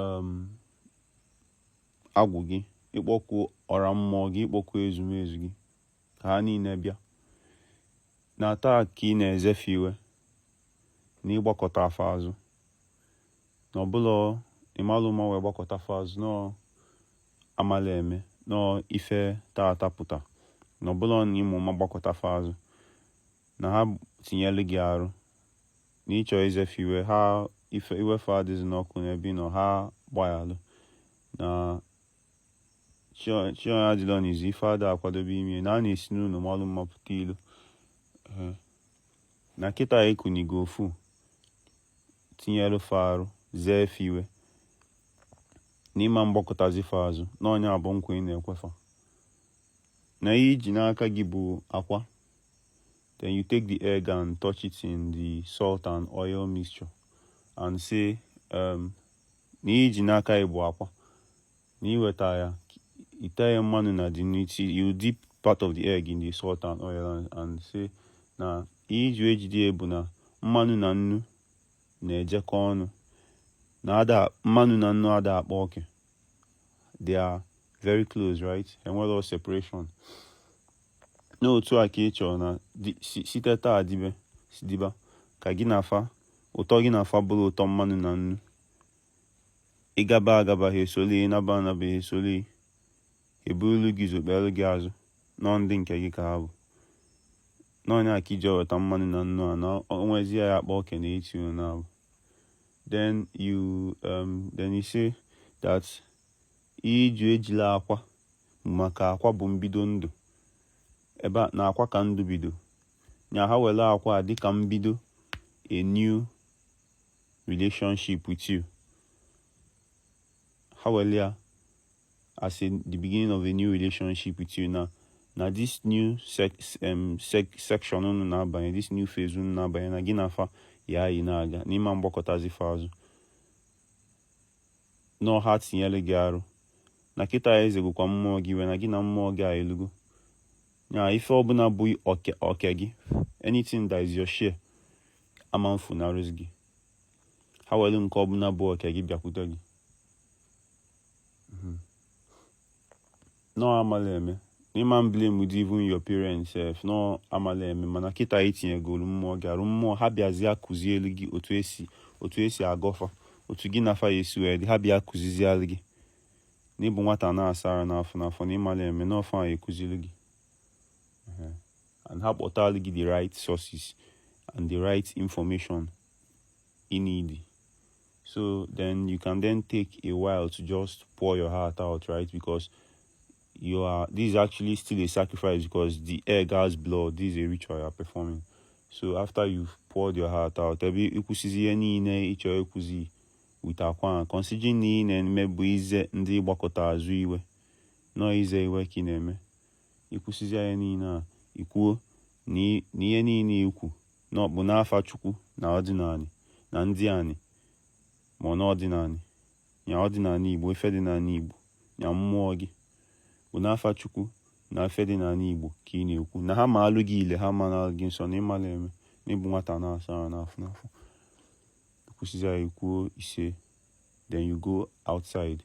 um, agwụ gị ịkpọku ọra mmụọ gị ịkpọku ezumezu gị ka ha niile bịa na taa ka ị na-eze fa iwe na ịgbakụta fa azụ na ọ bụlọ ịmalụ ụma wee gbakụta fa azụ na ọ amala eme na ọ ife taata pụta na ọ bụlọ na ịma ụma gbakụta fa azụ na ha tinyelu gị arụ na ịchọ ize fa iwe ha ife iwe fa adịzina ọkụ n'ebe ị nọ ha gbaghalụ na chi onye adịlọ n'izu ife ada akwadobe ime na a na-esi n'ụnọ malụ mma pụta ilo na kịta ekunigo ofu tinyelu fa arụ zee fa iwe na ịma mgbakụtazi fa azụ na ọ nya bụ nkwa ị na-ekwe fa na ihe iji n'aka gị bụ akwa then you take the egg and touch it in the salt and oil mixture and say um, na ihe iji n'aka gị bụ akwa na iweta ya ite ya mmanụ na then you dip part of the egg in the salt and oil and, and say na ihe iji wee jide ya bụ na mmanụ na nnu na-ejekọ ọnụ na ada mmanụ na nnu ada akpa oke they are very close right enwelọ separation n'otu a ka ị chọrọ na site taa dibe diba ka gị na fa ụtọ gị na fa bụrụ ụtọ mmanụ na nnu ịgaba agaba ha esoli ịnaba anaba ha esoli ha eburulu gị ụzọ kpelu gị azụ na ọ ndị nke gị ka ha bụ na ọ nya ka iji weta mmanụ na nnu a na o nwezi ya akpa oke n'etiti unu naabọ then you um, then you say that iji ejila akwa maka akwa bụ mbido ndụ ebe a na akwa ka ndụ bido nya ha welu akwa a dịka mbido a new relationship with you ha welu ya as the beginning of a new relationship with you now na this new sec, um, sec, section unu na-abanye this new phase unu na-abanye na gị na fa ya eyi na-aga na ịma mgbakụtazi fa azụ na ha tinyelu gị arụ na kịta izegokwa mmụọ gị iwe na gị na mmụọ gị a elugo ya ife ọbụla bụ oke gị anything that is your share ama mfunarụzi gị ha welu nke ọbụla bụ oke gị bịakwute gị Mm-hmm. Na ọ amala eme. Na ịma mblamedu even your parents sef. Na ọ amala eme mana kịta itinyegolu mmụọ gị arụ mmụọ ha bịazia kuzielu gị otu esi otu esi agọ fa otu gị na fa ya esi wee dị ha bịa kuzizialụ gị na ịbụ nwata na-asa arụ n'afọ n'afọ na ịmalọ eme na ọ fa ya ekuzili gị and ha kpọtalụ gị the right sources and the right information ị need So then you can then take a while to just pour your heart out, right? Because you are this is actually still a sacrifice because the egg has blood. This is a ritual you are performing. So after you've poured your heart out, ebe i kwusizi ihe niile ị chọ ikwuzi with akwa considering na ihe ị na-eme bụ ize ndị gbakụta azụ iwe na ọ ize iwe ka ị na-eme i kwusizi ihe niile a i kwuo na ihe niile i kwu na ọ bụ n'afa chukwu na ọdịnala na ndị anyị ma n'ọdịnala ya ọdịnala igbo ife dị n'ala igbo ya mmụọ gị bụ n'afa chukwu na ife dị n'ala igbo ka ị na-ekwu na ha ma alụ gị ile ha ma na gị nsọ na ịmala eme na ị bụ nwata na-asa ahụ n'afọ n'afọ kwusizi ya i kwuo ise then you go outside